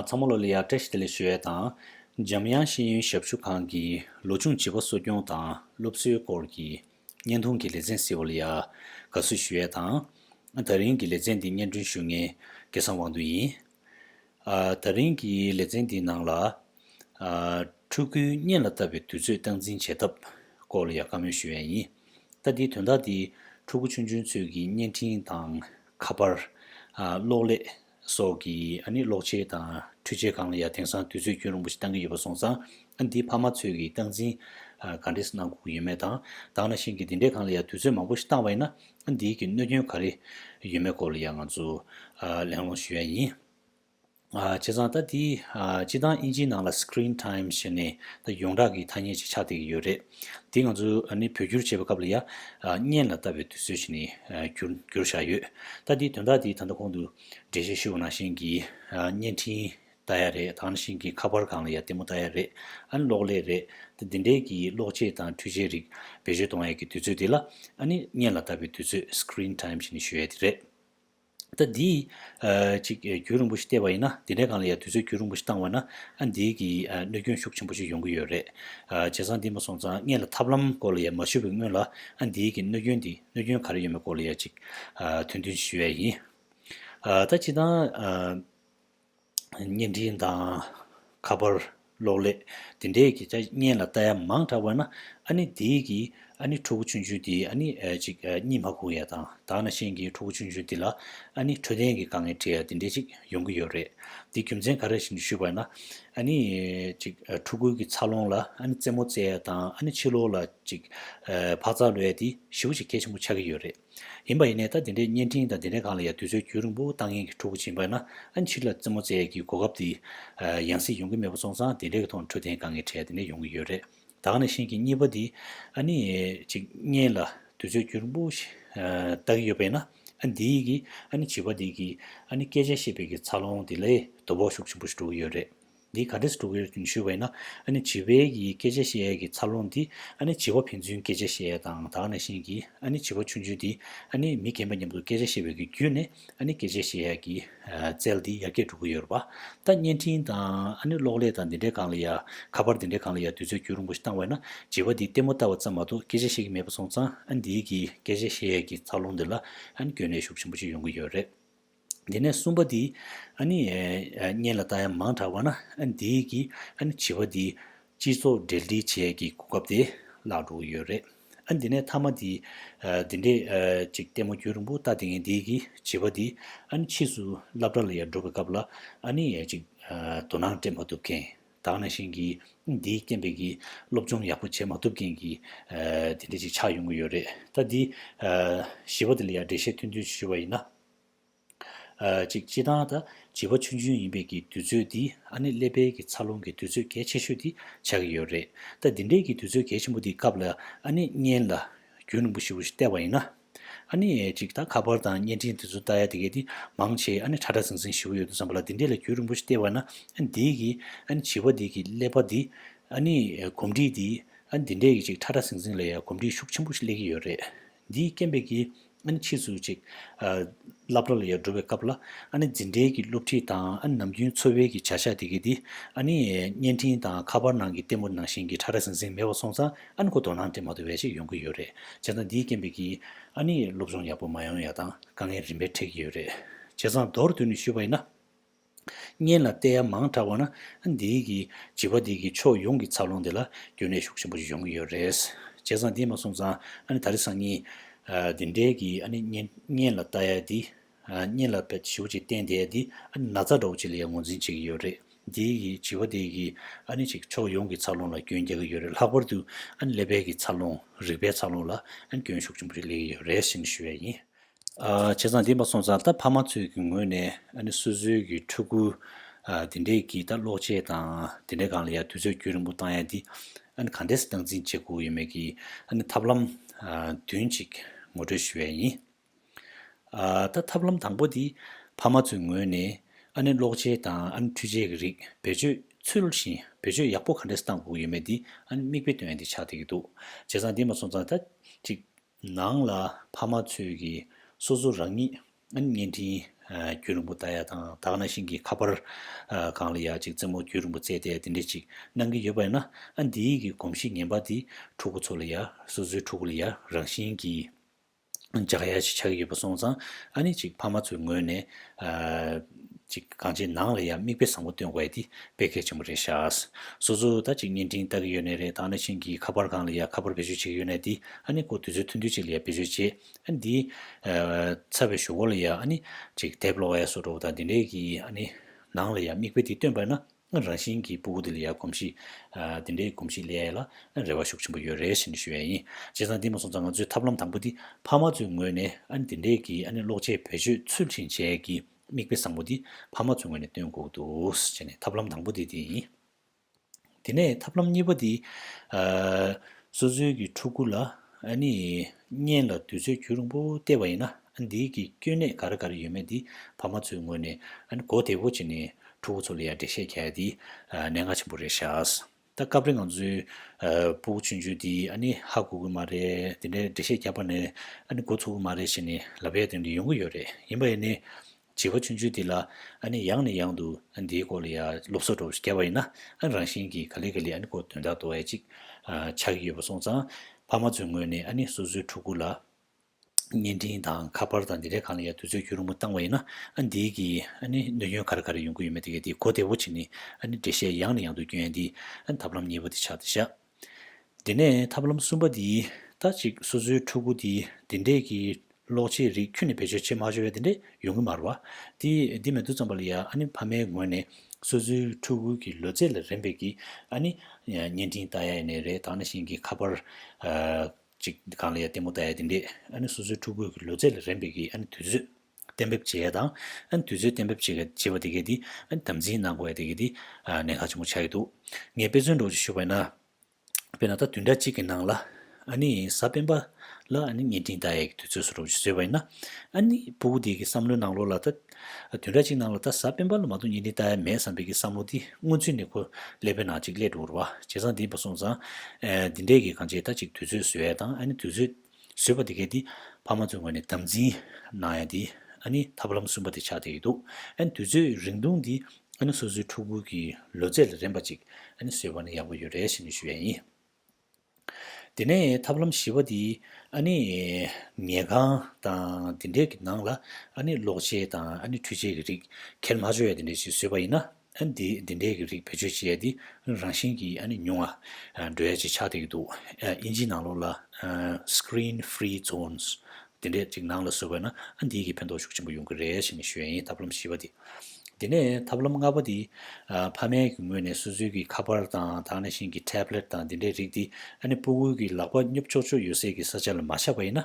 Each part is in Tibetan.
ཚ་མོ་ལོ་ལི་ཡཱ་བཀྲ་ཤིས་བདེ་ལེགས་ཞུ་ཡས་དང། འཇམ་དབྱངས་ཤེས་ཡོན་ཞབས་ཞུ་ཁང་གི་ལོ་ཆུང་བྱིས་པ་གསོ་སྐྱོང་དང་སློབ་གསོའི་སྐོར་གྱི་བརྙན་ཐུང་གི་ལེ་ཚན་སི་ཨོ་ལི་ཡཱ་དགའ་བསུ་ཞུ་ཡས་དང། ད་རིང་གི་ལེ་ཚན་འདི་སྙན་སྒྲོན་ཞུ་མཁན་སྐལ་བཟང་དབང་འདུས་ཡིན། ད་རིང་གི་ལེ་ཚན་འདིའི་ནང་ལ། ཕྲུ་གུའི་གཉེན་ལ་ལྟ་བའི་དུས་ཚོད་སྟངས་འཛིན་བྱེད་ཐབས་སྐོར་ལ་ཡང་བཀའ་མོལ་ཞུ་ཡ་ཡིན། ལྟ་དེའི་དོན་དག་འདི་ཕྲུ་གུ་ཆུང་ཆུང་ཚོས་ཀྱི་བརྙན་འཕྲིན་དང་ཁ་པར། གློག་ཀླད་སོགས་ཀྱི་ཨ་ནི་གློག་ཆས་དང་འཕྲུལ་ཆས་གང་ལ་ཡང་དེང་སང་དུས་ཚོད་སྐྱོན་རིང་པོ་ཞིག་བཏང་གི་ཡོད་པ་སོང་ཙང་ཨ་འདིའི་ཕ་མ་ཚོས་ཀྱི་སྟངས་འཛིན་ག་འདྲས་གནང་དགོས་ཀྱི་ཡོད་མེད་དང། བདག་ན་བཞིན་གྱི་འདི་འདྲས་གང་ལ་ཡང་དུས་ཚོད་མང་པོ་ཞིག་བཏང་བ་ཡིན་ན་འདིའི་གི་གནོད་སྐྱོན་ག་རེ་ཡོད་མེད་སྐོར་ལ་ཡང་ང་ཚོ་གླེང་སློང་ཞུ་ཡ་ཡིན། བྱས་ཙང་ད་འདི་སྤྱི་སྟངས་དབྱིན་ཇིའི་ནང་ལ Screen Time ཞེས་ནས་ད་ཡོངས་གྲགས་ཀྱི་ཐ་སྙད་ཅིག་ཆགས་བསྡད་ཀྱི་ཡོད་རེད། འདི་ང་ཚོ་ནི་བོད་བསྒྱུར་བྱེད་པའི་སྐབས་ལ་ཡང་བརྙན་ལ་བལྟ་བའི་དུས་ཚོད་ཅིག་ནས་བསྒྱུར་བཞག་ཡོད། ད་འདིའི་དོན་དག་འདི་ད་ལྟ་གོང་དུ་འགྲེལ་བཤད་ཞུ་བ་ནང་བཞིན་གྱི་བརྙན་འཕྲིན་ད་ཡ་རེད་དང་ཤིང་གི་ཁ་པར་གང་ལ་ཡ་ལྟད་མོ་ད་ཡ་རེད་ཨ་ནི་གློག་ཀླད་རེད་དེ་འདི་འདྲའི་གི་གློག་ཆས་དང་འཕྲུལ་ཆས་རིགས་བེད་སྤྱོད་གཏོང་ཡ་གི་དུས་ཚོད་དེ་ལ་ཨ་ནི་བརྙན་ལ་ལྟ་བའི་དུས་ཚོད Screen Time ཞེས་ནི་ཞུ་ཡ་དེ་རེད་ད་འདི་ཅིག་རྒྱུན་རིང་པོ་ཞིག་བལྟས་པ་ཡིན་ན་འདི་འདྲའི་གང་ལ་ཡ་དུས་ཚོད་རྒྱུན་རིང་པོ་ཞིག་བཏང་བ་ན་ཨ་འདིའི་གི་གནོད་སྐྱོན་ཤུགས་ཆེན་པོ་ཞིག་ཡོང་གི་ཡོད་རེད་བྱས་ཙང་འདི་མ་སོང་ཙང་བརྙན་ལ་ཐབས་ལམ་སྐོར་ལ་ཡ་མ་ཞུ་བའི་སྔོན་ལ་ཨ་འདིའི་གི་གནོད་སྐྱོན་འདི་གནོད་སྐྱོན་ག་རེ་ཡོད་མེད་སྐོར་ལ་ཡ་ཅིག་དོན་མཐུན་ཞིག་ཞུ་ཡ་ཡིན་ད་བྱས་ཙང། བརྙན་འཕྲིན་དང། ཁ་པར། གློག་ཀླད། དེ་འདྲའི་གི་ཆ་བརྙན་ལ་ལྟ་ཡ་མང་དྲགས་པ་ན། ཨ་ནི་འདི་གི། ཨ་ནི་ཕྲུ་གུ་ཆུན་ཆུན་འདི་ཨ་ནི། ཅིག་གཉིད་མ་ཁུག་ཡ་དང་དག་ན་ཤེས་ཀྱི་ཕྲུ་གུ་ཆུན་ཆུན་འདི་ལ། ཨ་ནི་འཕྲོད་བསྟེན་གི་དཀའ་ངལ་འཕྲད་ཡ་དེ་འདྲས་ཅིག་ཡོང་གི་ཡོད་རེད། དེ་རྒྱུ་མཚན་ག་རེ་ཞིག་ཞུས་པ་ན། ཨ་ནི། ཅིག་ཕྲུ་གུ་གི་འཚར་ལོངས་ལ་ཨ་ནི་རྩེད་མོ་རྩེ་ཡ་དང་ཨ་ནི་ཕྱི་ལོག་ལ། ཅིག། འཕག་འཚག་ལོས་ཡ་དེ་བཞི་བོ་ཅིག་གལ་ཆེན་པོ་ཆགས་ཀྱི་ཡོད་རེད། ཡིན་པ་ཡིན་ནས་ད་དེ་འདྲའི་བརྙན་འཕྲིན་དང་དེ་འདྲའི་སྒང་ལ་ཡང་དུས་ཚོད་རྒྱུན་རིང་པོ་བཏང་ཡན་གྱི་ཕྲུ་གུ་བྱིན་པ་ན་ཨ་ཕྱིར་ལ་རྩེད་མོ་རྩེད་ཡས་ཀྱི་གོ་སྐབས་དེ་ཡང་སྲིད་ཡོང་གི་མེད་པ་སོང་ཙང་དེ་འདྲའི་གི་ཐོག་འཕྲོད་བསྟེན་སྒང་གི་གྲས་དེ་འདྲ་ཡོང་གི་ཡོད་རེད་ད་ག་ནས་ཤེས་ཀྱི་གཉིས་པ་དེ་ཨ་ནི་ཅིག་བརྙན་ལ་དུས་ཚོད་རྒྱུན་རིང་པོ་ལྟ་གི་ཡོད་པས་ན་ཨ་འདིའི་གི་ཨ་ནི་བྱིས་པ་དེ་གི་ཨ་ནི་སྐད་ཆ་བཤད་པའི་གི་འཚར་ལོངས་དེ་ལས་དོ་ཕོག་ཤུགས་ཆེན་པོ་ཞིག་འགྲོ་གི་ཡོད་རེད། འདི་ག་དྲིས་དྲུག་ཡོད་ཅིང་ཞུས་པ་ཡིན་ན། ཨ་ནི་བྱི་བའི་ཡི་གེ་བྱ་ཤེས་ཨའི་གི་ཚར་ལོངས་འདི། ཨ་ནི་བྱི་བ་ཕན་ཚུན་སྐད་ཆ་བཤད་ཨའི་དང་དག་ནས་བཞིན་གྱི། ཨ་ནི་བྱི་བ་ཆུང་ཆུང་འདི། ཨ་ནི་མི་རྒན་པ་མཉམ་དུ་སྐད་ཆ་བཤད་པའི་གི་བརྒྱུད་ནས། ཨ་ནི་སྐད་ཆ་བཤད་ཨའི་གི། རྩལ་འདི་ཡར་རྒྱས་འགྲོ་གི་ཡོད་རེད་པ། ད་བརྙན་འཕྲིན་དང། ཨ་ནི་གློག་ཀླད་དང་འདི་འདྲའི་གང་ལ་ཡ། ཁ་པར་འདི་འདྲའི་གང་ལ་ཡ་དུས་ཚོད་བསྐྱུར་རིང་པོ་ཞིག་བཏང་བས་ན། བྱི་བ་འདི་ལྟད་མོ་བལྟ་བ་ཙམ་མ་གཏོགས་སྐད་ཆ་བཤད་ཀྱི་མེད་པ་སོང་ཙང་ཨ་འདིའི་གི་སྐད་ཆ་བཤད་ཨའི་གི་ཚར་ལོངས་འདི་ལ། ཨ་ནི་སྐྱོན་ནད་ཤུགས་ཆེན་པོ་ཞིག་ཡོང་གི་ཡོད་རེད། དེ་ནས་གསུམ་པ་དེའི། གཉེན་ལ་བལྟ་ཡང་མང་དྲགས་པ་ན། དེས་ཀྱིས་བྱིས་པ་དེའི། སྤྱི་ཚོགས་འབྲེལ་འདྲིས་བྱས་ཀྱི་གོ་སྐབས་དེ་བརླག་འགྲོ་ཡོད་རེད། དེ་ནས་ཐ་མ་དེའི། དེ་འདྲས་ཅིག་ལྟད་མོ་རྒྱུ་རིང་པོ་བལྟ་དེ་ངས་དེས་ཀྱིས་བྱིས་པ་དེའི། ཕྱིས་སུ་སླབ་གྲྭ་ལ་ཡར་འགྲོ་བའི་སྐབས་ལ། དོ་སྣང་སྤྲད་མ་ཐུབ་མཁན། དག་ན་ཞིང་གིས་དེའི་སྐྱེ་འཕེལ་གྱི་སློབ་སྦྱོང་ཡག་པོ་བྱས་མ་ཐུབ་མཁན་གྱི། དེ་འདྲས་ཅིག་ཆགས་ཡོང་གི་ཡོད་རེད། ད་དེའི། བྱིས་པ་དེ་ལ་ཡར་འགྲེལ་བཤད་ཐུན་ཐུན་ཞུས་པ་ཡིན་ན། ཅིག་སྤྱི་དང་དང་བྱིས་པ་ཆུང་ཆུང་ཡིན་པའི་ཀྱི་དུས་ཚོད་འདི་ཨ་ནེ་ཀླད་པའི་ཀྱི་འཚར་ལོངས་ཀྱི་དུས་ཚོད་གལ་ཆེ་ཤོས་འདི་ཆགས་ཀྱི་ཡོད་རེད་ད་འདི་འདྲའི་ཀྱི་དུས་ཚོད་གལ་ཆེན་པོ་འདི་སྐབས་ལ་ཨ་ནེ་བརྙན་ལ་རྒྱུན་རིང་པོ་ཞིག་རུ་ཞིག་བལྟས་པ་ཡིན་ན་ཨ་ནེ་ཅིག་ད་ཁ་པར་དང་བརྙན་འཕྲིན་དེ་ཚོ་ལྟ་ཡ་དེ་གས་འདི་མང་ཆེ་ཨ་ནེ་ཁྲ་ཁྲ་ཟིང་ཟིང་ཞིག་བོ་ཡོད་དུ་བསམ་པ་ལ་འདི་འདྲས་ལ་རྒྱུན་རིང་པོ་ཞིག་བལྟས་པ་ན་ཨ་ནེ་འདིའི་ཀྱི་ཨ་ནེ་བྱིས་པ་འདིའི་ཀྱི་ཀླད་པ་འདི་ཨ་ནེ་གོམས་འདྲིས་འདི་ཨ་ནེ་འདི་འདྲས་ཀྱི་ཅིག་ཁྲ་ཁྲ་ཟིང་ཟིང་ལ་ཡ་གོམས་འདྲིས་ཤུགས་ཆེན་པོ་ཞིག་སླེབས་ཀྱི་ཡོད་རེད་འདིས་སྐྱེན་པའི་གི། ཨ་ནི་ཕྱིས་སུ་ཅིག། བླ་བྲ་ལ་ཡར་འགྲོ་བའི་སྐབས་ལ། ཨ་ནི་འཛིན་གྲྭའི་གི་སློབ་ཁྲིད་དང་ཨ་ནི་ནམ་རྒྱུན་འཚོ་བའི་གི་བྱ་བཞག་དེ་གི་འདི། ཨ་ནི། བརྙན་འཕྲིན་དང་ཁ་པར་ནང་གི་ལྟད་མོ་ནང་བཞིན་གི་ཁྲ་ཁྲ་ཟིང་ཟིང་མེད་པར་སོང་ཙང་ཨ་ནི་ཁོ་དོ་སྣང་དེ་མ་ཏོ་བས་ཅིག་ཡོང་གི་ཡོད་རེད། བྱས་ཙང་འདིས་སྐྱེན་པའི་གི། ཨ་ནི་སློབ་སྦྱོང་ཡག་པོ་མ་ཡོང་ཡག་དང་དཀའ་ངལ་རིམ་པས་འཕྲད་ཀྱི་ཡོད་རེད། བྱས་ཙང་མདོར་བསྡུས་ནས་ཞུས་པ་ཡིན་ན། གཉེན་ལ་བལྟས་ཡ་མང་དྲགས་པ་ན་འདིའི་གི་བྱིས་པ་དེ་གི་ཕྱོགས་ཡོངས་ཀྱི་འཚར་ལོངས་དེ་ལ་རྒྱུན་ལས་ཤུགས་ཆེན་པོ་ཞིག་ཡོང་གི་ཡོད་རེད། བྱས་ཙང་དེ་མ་སོང་ཙང་ཨ་ནི་ད་རེས་སང་ཉིན་འདི་འདྲའི་གི་ཨ་ནི་གཉེན་ལ་བལྟ་ཡ་དེ། གཉེན་ལ་བལྟ་ཞིབ་ཅིག་བསྟན་དེ་ཡ་དེ་ཨ་ནི་ན་ཚ་འདྲ་བོ་ཅིག་ལ་ཡང་ངོ་འཛིན་བྱེད་ཀྱི་ཡོད་རེད། འདིའི་གི་བྱིས་པ་དེ་གི་ཨ་ནི་ཅིག་ཕྱོགས་ཡོངས་ཀྱི་འཚར་ལོངས་ལ་སྐྱོན་རྒྱག་གི་ཡོད་རེད་ལྷག་པར་དུ་ཨ་ནི་ཀླད་པའི་གི་འཚར་ལོངས་རིག་པའི་འཚར་ལོངས་ལ་ཨ་ནི་སྐྱོན་ཤུགས་ཆེན་པོ་ཞིག་སླེ་གི་ཡོད་རེད་ཞེས་ནི་ཞུ་ཡ་ཡིན། བྱས་ཙང་འདི་མ་སོང་ཙང་ད་ཕ་མ་ཚོའི་གི་ངོས་ནས་ཨ་ནེ་སོ་སོའི་གི་ཕྲུ་གུ་འདི་འདྲས་གི་ད་ལོག་ཆས་དང་དེ་འདྲས་གང་ལ་ཡང་དུས་ཚོད་རྒྱུས་རིང་པོ་བཏང་ཡང་འདི་ཨ་ནེ་གང་འདྲས་སུ་བཏང་འཛིན་བྱེད་དགོས་ཡོད་མེད་གི་ཨ་ནེ་ཐབས་ལམ་བདུན་གཅིག་ངོ་སྤྲོད་ཞུ་བས་ཡིན། ད་ཐབས་ལམ་དང་པོ་འདི་ཕ་མ་ཚོའི་ངོས་ནས་ཨ་ནེ་ལོག་ཆས་དང་ཨ་ནེ་འཕྲུལ་ཆས་གི་རིགས་བེད་སྤྱོད་ཚུལ་བཞིན་བེད་སྤྱོད་ཡག་པོ་གང་འདྲས་སུ་བཏང་དགོས་ཡོད་མེད་འདི་ཨ་ནེ་མིག་དཔེ་སྟོན་ཡང་འདི་ཆགས་བསྡད་གི་འདུག་བྱས་ཙང་འདི་མ་སོང་ཙང་ད་ཅིག་ནང་ལ་ཕ་མ་ཚོས་ཀྱིས་སོ་སོ་རང་ཉིད་བརྙན་འཕྲིན་བརྒྱུད་རིང་པོ་ལྟ་ཡག་དང་དག་ན་ཤིང་གི་ཁ་པར་གང་ལ་ཡག་ཅིག་རྩེད་མོ་བརྒྱུད་རིང་པོ་རྩེས་ཏེ་དེ་འདྲས་ཅིག་གནང་གིན་ཡོད་པ་ཡིན་ན་ཨ་འདིའི་གི་གོམས་གཤིས་ངན་པ་འདི་ཕྲུ་གུ་ཚོ་ལ་ཡང་སོ་སོའི་ཕྲུ་གུ་ལ་ཡང་རང་བཞིན་གྱིས་འཇགས་ཡག་ཅིག་ཆགས་ཀྱི་ཡོད་པ་སོང་ཙང་ཨ་ནི་ཅིག་ཕ་མ་ཚོའི་ངོས་ནས། ཅིག་གང་ཅིའི་ནང་ལ་ཡང་མིག་དཔེ་བཟང་པོ་སྟོན་དགོས་ཡ་འདི་དཔེ་གལ་ཆེན་པོ་རེད་ཤག། སོ་སོ་ད་ཅིག་བརྙན་འཕྲིན་ལྟ་གི་ཡོད་ནི་རེད་ད་ནི་ཕྱིན་གྱི་ཁ་པར་གང་ལ་ཡང་ཁ་པར་བེད་སྤྱོད་བྱེད་ཀྱི་ཡོད་ནི་འདི་ཨ་ནི་ཁོ་དུས་ཚོད་ཐུང་ཐུང་ཅིག་ལ་ཡང་བེད་སྤྱོད་བྱེད་ཨ་འདི། ཚ་བའི་ཞོ་གོ་ལ་ཡང་ཨ་ནི། ཅིག་དེབ་ལོ་བ་ཡ་སོ་འགྲོ་བ་དང་འདི་འདྲས་ཀྱི་ཨ་ནི། ནང་ལ་ཡང་མིག་དཔེ་འདི་སྟོན་པས་ན། ང་རང་བཞིན་གྱིས་སྤུ་གུ་དེ་ལ་ཡར་གོམས་གཤིས། དེ་འདྲའི་གོམས་གཤིས་ལས་ཡས་ལ་རེ་བ་ཤུགས་ཆེན་པོ་ཡོད་རེ་བཞིན་ཞུ་ཡས་ཡིན། བྱས་ཙང་འདི་མ་སོང་ཙང་ང་ཚོའི་ཐབས་ལམ་དང་པོ་འདི་ཕ་མ་ཚོའི་ངོས་ནས་ཨ་ནི་དེ་འདྲས་ཀྱིས་ཨ་ནི་ལོག་ཆས་བེད་སྤྱོད་ཚུལ་ཁྲིམས་བཅས་ཀྱི་མིག་དཔེ་བཟང་པོ་འདི་ཕ་མ་ཚོའི་ངོས་ནས་སྟོན་དགོས་འདུག་བྱས་ནས་ཐབས་ལམ་དང་པོ་འདི་དེ་ཡིན། དེ་ནས་ཐབས་ལམ་གཉིས་པ་འདི། སོ་སོའི་གི་ཕྲུ་གུ་ལ་ཨ་ནི། བརྙན་ལ་དུས་ཚོད་འགྱུར་རིང་པོ་བལྟས་པ་ཡིན་ན་འདིའི་གི་སྐྱོན་གནད་ག་རེ་ག་རེ་ཡོད་མེད་འདི་ཕ་མ་ཚོའི་ངོས་ནས་གོ་བདེ་བོ་བྱེད་ནས་ཕྲུ་གུ་ཚོ་ལ་ཡང་འགྲེལ་བཤད་བྱ་ཡ་འདི་གནད་འགག་ཆེན་པོ་རེད་ཤགས། ད་སྐབས་རེ་ང་ཚོའི་སྤུ་གུ་ཆུན་ཆུན་འདི་ནི་ཧ་གོ་གི་མ་རེད་འདི་འདྲའི་འགྲེལ་བཤད་རྒྱག་པ་ནི་གོ་ཚུགས་གི་མ་རེད་བྱེད་ནས་ལབ་ཡ་དོན་དུ་ཡོང་གི་ཡོད་རེད་ཡིན་པ་ཡིན་ནའི་བྱིས་པ་ཆུང་ཆུང་དེ་ལ་ཨ་ནི་ཡང་ནས་ཡང་དུ་ཨ་ནི་དེའི་སྐོར་ལ་ཡ་སློབ་གསོ་སྒྲོག་རྒྱབ་པ་ཡིན་ན་ཨ་ནི་རང་བཞིན་གྱིས་ག་ལེ་ག་ལེ་ཨ་ནི་སྐོར་དོན་དག་དོ་ཨེ་ཅིག་ཆགས་ཀྱི་ཡོད་པ་སོང་ཙང། ཕ་མ་ཚོའི་ངོས་ནས་ཨ་ནི་སོ་སོའི་ཕྲུ་གུ་ལ་བརྙན་འཕྲིན་དང་ཁ་པར་དང་འདི་འདྲའི་གང་ལ་ཡ་དུས་ཚོད་སྐྱུར་རིང་པོ་བཏང་བ་ཡིན་ན་ཨ་ནི་དེའི་གིས་ཨ་ནི་གནོད་སྐྱོན་ག་རེ་ག་རེ་ཡོང་གི་ཡོད་མེད་དེ་གས་དེའི་གོ་བདེ་བོ་བྱེད་ནི་ཨ་ནི་འགྲེལ་བཤད་ཡང་ནས་ཡང་དུ་བསྐྱོན་ཡ་འདིས་ཨ་ནི་ཐབས་ལམ་གཉིས་པོ་དེ་ཆགས་ཏེ་བཞག། དེ་ནས་ཐབས་ལམ་གསུམ་པ་འདི་ལྟ་ཅིག་སོ་སོའི་ཕྲུ་གུ་འདི་འདི་འདྲས་ཀྱི་ལོག་ཆས་རིགས་ཁྱོད་ནི་བེད་སྤྱོད་བྱེད་མ་ཤོར་བས་དེ་འདྲས་ཡོང་གི་མ་རུང་བ། དེ་འདི་མེད་དུ་བརྩམས་པ་ལ་ཡང་ཨ་ནེ་ཕ་མའི་ངོས་ནས་སོ་སོའི་ཕྲུ་གུ་གི་ལོ་ཚད་ལ་རན་པས་ཀྱི་ཨ་ནེ། བརྙན་འཕྲིན་ལྟ་ཡ་ཡི་ནས་རེད་ད་ན་ཤིང་གི་ཁ་པར། ཅིག་གང་ལ་ཡང་ལྟད་མོ་ལྟ་ཡ་དེ་འདྲས་ཨ་ནེ་སོ་སོའི་ཕྲུ་གུ་གི་ལོ་ཚད་ལ་རན་པས་ཀྱི་ཨ་ནེ་དུས་ཚོད། གཏན་འབེབས་བྱེད་ཡས་དང། དུས་ཚོད་གཏན་འབེབས་བྱེད་ཅེས་པ་དེ་གས་དེ། དམ་འཛིན་གནང་དགོས་ཡས་དེ་གས་དེ། ནན་ཁག་ཆེན་པོ་བྱ་ཡས་འདུག། ངས་དཔེ་མཚོན་སྒྲོག་ཅིག་ཞུ་བས་ན། དཔེར་ན་ད་དུས་འདྲ་གཅིག་གི་ནང་ལ། ཨཱ་ནི་གཟའ་སྤེན་པ་ལ་ཨཱ་ནི་བརྙན་འཕྲིན་ལྟ་ཡས་ཀྱི་དུས་ཚོད་སུ་རུབ་ཅིག་བཟོས་པ་ཡིན་ན། ཨཱ་ནི་སྤུ་གུ་དེ་གི་བསམ་བློའི་ནང་ལོགས་ལ་ད། དུས་འདྲ་གཅིག་ནང་ལ་ད་གཟའ་སྤེན་པ་ལ་མ་གཏོགས་བརྙན་འཕྲིན་ལྟ་ཡས་མེད་བསམ་པའི་གི་བསམ་བློ་དེ་སྔོན་ཚུད་ནས་ཁོ་ཀླད་པའི་ནང་གཅིག་ཀླད་འགྲོ་འུར་བ། བྱས་ཙང་དེ་མ་སོང་ཙང། འདི་འདྲས་ཀྱི་གང་བྱས་ད་གཅིག་དུས་ཚོད་བཟོས་ཡས་དང་ཨཱ་ནི་དུས་ཚོད། བཟོས་པ་དེ་གས་ཏེ། ཕ་མ་ཚོའི་ངོས་ནས་དམ་འཛིན། གནང་ཡ་དེ། ཨ་ནི་ཐབས་ལམ་གསུམ་པ་དེ་ཆགས་བསྡད་ཡོད་འདུག་ཨ་ནི་དུས་ཚོད་རིང་ཐུང་དེ། ཨ་ནི་སོ་སོའི་ཕྲུ་གུ་གི་ལོ་ཚད་ལ་རན་པ་ཅིག་ཨ་ནི་བཟོས་པ་ནི་ཡག་པོ་ཡོད་རེད་ཞེས་ནི་ཞུ་ཡ་ཡིན། དེ་ནས་ཐབས་ལམ་བཞི་བ་དེ། ཨ་ནི། ཉལ་ཁང་དང་དེ་འདྲས་ཀྱི་ནང་ལ་ཨ་ནི་གློག་ཆས་དང་ཨ་ནི་འཕྲུལ་ཆས་ཀྱི་རིགས། ཁལ་མ་བཅོ་ཡ་དེ་འདྲས་ཅིག་བཟོས་པ་ཡིན་ན། འདི་འདི་འདྲའི་གི་རིགས་བེད་སྤྱོད་བྱས་ཏེ་རང་བཞིན་གི་ཉུང་ང། Dry། ཅིག་ཆགས་བསྡད་ཀྱི་འདུག་དབྱིན་ཇིའི་ནང་ལོགས་ལ། Screen Free Zones། དེ་འདྲས་ཅིག་ནང་ལ་བཟོ་དགོས་ན་འདིའི་གི་ཕན་ཐོགས་ཤུགས་ཆེན་པོ་ཡོང་གི་རེད་ཞེས་ནས་ཞོའི་ཡིན་ཐབས་ལམ་བཞི་བ་དེ། དེ་ནས་ཐབས་ལམ་ལྔ་པ་དེ། ཕ་མའི་གི་ངོས་ནས་སོ་སོའི་གི་ཁ་པར་དང་དང་ནས་བཞིན་གི Tablet དང་འདི་འདྲའི་རིགས་དེ། པུ་གུའི་གི་ལག་པ་སྙོབ་ཆོག་ཆོག་ཡོད་སའི་གི་ས་ཆ་ལ་མ་ཆགས་པ་ཡིན་ན།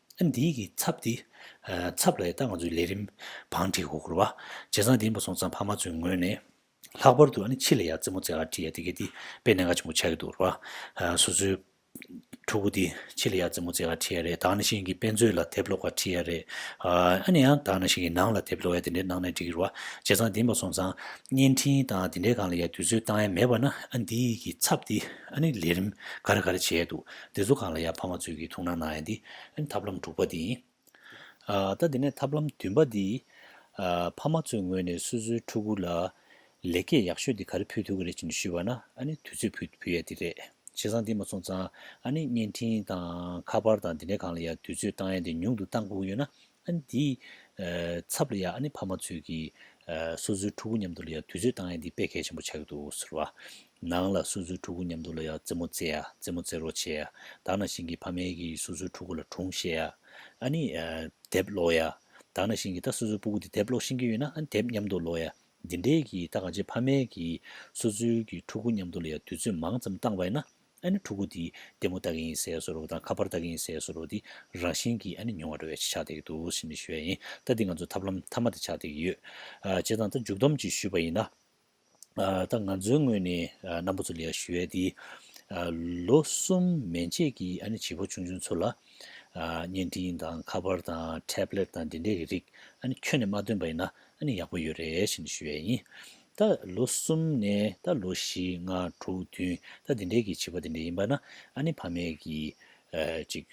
ཨ་འདིའི་གི་ཚབ་འདི། ཚབ་ལ་ཡི་ད་ང་ཚོའི་ལས་རིམ་བང་འཁྲིད་གོ་གོར་བ། བྱས་ཙང་འདིའི་མ་སོང་ཙང་ཕ་མ་ཚོའི་ངོས་ནས། ལྷག་པར་དུ་ཨ་ནི་ཕྱི་ལ་ཡར་རྩེད་མོ་རྩེ་ག་ཀྲི་ཡ་དེ་གའི་དེ་དཔེ་གནད་འགའ་ཆེན་པོ་ཆགས་ཀྱི་འདུག་གོར་བ། སོ་སོའི། ཕྲུ་གུ་དེ་ཕྱི་ལ་ཡར་རྩེད་མོ་རྩེ་ག་ཀྲི་ཡ་རེད་ད་ནང་བཞིན་གི་དཔེ་མཛོད་ལ་དེབ་ཀློག་ག་ཀྲི་ཡ་རེད། ཨ་ནི་ཡང་ད་ནང་བཞིན་གི་ནང་ལ་དེབ་ཀློག་ཡ་དེ་འདྲའི་གནང་ན་འགྲིག་གི་རེད་བ། བྱས་ཙང་འདིའི་མ་སོང་ཙང། བརྙན་འཕྲིན་དང་དེ་འདྲའི་གང་ལ་ཡར་དུས་ཚོད་བཏང་ཡ་མེད་བ་ན་ཨ་འདིའི་གི་ཚབ་འདི། ཨ་ནི་ལས་རིམ་ག་རེ་ག་རེ་བྱས་ཡ་འདུག་དེ་ཚོ་གང་ལ་ཡང་ཕ་མ་ཚོས་ཀྱིས་ཐུགས་སྣང་གནང་ཡ་འདི་ཐབས་ལམ་དྲུག་པ་དེ་ཡིན། ད་དེ་ནས་ཐབས་ལམ་བདུན་པ་འདི། ཕ་མ་ཚོའི་ངོས་ནས་སོ་སོའི་ཕྲུ་གུ་ལ། ལེགས་སྐྱེས་ཡག་ཤོས་འདི་ག་རེ་ཕུལ་ཐུབ་ཀྱི་རེད་ཅེས་ཞུས་པ་ན་ནི་དུས་ཚོད་ཕུལ་ཕུལ་ཡ་འདི་རེད། བྱས་ཙང་འདི་མ་སོང་ཙང་ནི་བརྙན་འཕྲིན་དང་ཁ་པར་དང་འདི་འདྲའི་གང་ལ་ཡང་དུས་ཚོད་བཏང་ཡ་འདི་ཉུང་དུ་བཏང་དགོས་ཀྱི་ཡོད་ན་ཨ་ནི་དེའི་ཚབ་ལ་ཡང་ཨ་ནི་ཕ་མ་ཚོས་ཀྱིས་སོ་སོའི་ཕྲུ་གུ་མཉམ་དུ་ལ་ཡང་དུས་ཚོད་བཏང་ཡ་འདི་དཔེ་གལ་ཆེན་པོ་ཆགས་ཀྱི་འདུག་ཟེར་བ། ནང་ལ་སོ་སོའི་ཕྲུ་གུ་མཉམ་དུ་ལ་ཡང་རྩེད་མོ་རྩེ་ཡ་རྩེད་མོ་རྩེ་རོགས་བྱེད་ཡ་དག་ན་ཞིང་གིས་ཕ་མའི་གིས་སོ་སོའི་ཕྲུ་གུ་ལ་དྲུང་བཤད་ཡ་ཨ་ནི་དེབ་ཀློག་ཡ་དག་ན་ཞིང་གིས་ད་སོ་སོའི་སྤུ་གུ་དེ་དེབ་ཀློག་ཤེས་ཀྱི་ཡོད་ན་ཨ་ནི་དེབ་མཉམ་དུ་ཀློག་ཡ་འདི་འདྲས་ཀྱིས་ད་གང་ཆེ་ཕ་མའི་གིས་སོ་སོའི་གིས་ཕྲུ་གུ་མཉམ་དུ་ལ་ཡང་དུས་ཚོད་མང་ཙམ་བཏང་བས་ན་ཨ་ནི་ཕྲུ་གུ་འདི་ལྟད་མོ་ལྟ་གིན་ཡིན་ཟེར་སོ་རུག་དང་ཁ་པར་ལྟ་གིན་ཡིན་ཟེར་སོ་རུག་འདི་རང་བཞིན་གྱིས་ཨ་ནི་མྱོང་བ་འགྲོ་བས་ཕྱི་ཆགས་འདེགས་འདུག་ཟེར་ནས་ཞུ་བས་ཡིན་ལྟ་འདི་ང་ཚོའི་ཐབས་ལམ་མཐའ་མ་དེ་ཆགས་འདེགས་ཡོད། བྱས་ཙང་ད་མཇུག་བསྡོམས་ཀྱིས་ཞུས་པ་ཡིན་ན། ད་ང་ཚོའི་ངོས་ནས་རྣམ་པ་ཚོ་ལས་ཞུ་བས་འདི། ལོ་གསུམ་མན་ཆད་ཀྱི་ཨ་ནི་བྱིས་པ་ཆུང་ཆུང་ཚོ་ལ། བརྙན་འཕྲིན་དང་ཁ་པར་དང་ཐེབ་ལེད་དང་འདི་འདྲའི་རིགས་ཨ་ནི་ཁྱོན་ནས་མ་སྟོན་པ་ཡིན་ན་ཨ་ནི་ཡག་པོ་ཡོད་རེད་ཟེར་ནས་ཞུ་བས་ཡིན། ད་ལོ་གསུམ་ནས་ད་ལོ་བཞི་ལྔ་དྲུག་བདུན་ད་དེ་འདྲའི་གི་བྱིས་པ་དེ་འདྲ་ཡིན་པ་ན་ཨ་ནེ་ཕ་མས་གི་ཅིག་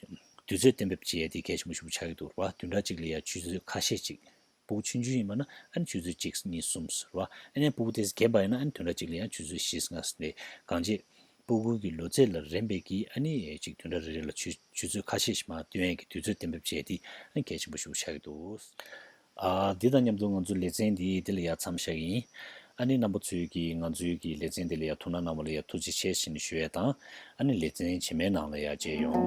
དུས་ཚོད་གཏན་འབེབས་བྱས་ཏེ་གད་ཆེན་པོ་ཞིག་པོ་ཆགས་ཀྱི་འདུག་རེད་བ་དུས་འདྲ་གཅིག་ལ་ཡ་ཆུད་ཚོད་ཁ་ཤས་ཅིག་སྤུ་གུ་ཆུན་ཆུན་ཡིན་པ་ན་ཨ་ནེ་ཆུད་ཚོད་གཅིག་གཉིས་གསུམ་ཟེར་བ་ཨ་ནེའི་སྤུ་གུ་དེས་གས་པ་ཡིན་ན་ཨ་ནེ་དུས་འདྲ་གཅིག་ལ་ཡང་ཆུད་ཚོད་བཞི་ལྔ་ཟེར་ཏེ་གང་བྱེད། སྤུ་གུ་གི་ལོ་ཚད་ལ་རན་པས་གི་ཨ་ནེས་ཅིག་དུས་འདྲ་རེ་རེ་ལ་ཆུད་ཚོད་ཁ་ཤས་ཤིག་མ་སྟོན་ཡས་གི་དུས་ཚོད་གཏན་འབེབས་བྱས་ཏེ་ཨ་ནེ་གད་ཆེན་པོ་ཞིག་པོ་ཆགས་ཀྱི་འདུག། དེ་དང་མཉམ་དུ་ང་ཚོའི་ལེ་ཚན་འདི་འདི་ལ་ཡ་མཚམས་བཞག་ཡིན། ཨ་ནེ་རྣམ་པ་ཚོས་ཀྱི་ང་ཚོའི་ཀྱི་ལེ་ཚན་འདི་ལ་ཡ་ཐུགས་སྣང་གནང་བ་ལ་ཡ་ཐུགས་རྗེ་ཆེ་བཞིན་ཞུ་ཡ་དང་ཨ་ནེ་ལེ་ཚན་བྱེ་མའི་ནང་ལ་ཡ་མཇལ་ཡོང།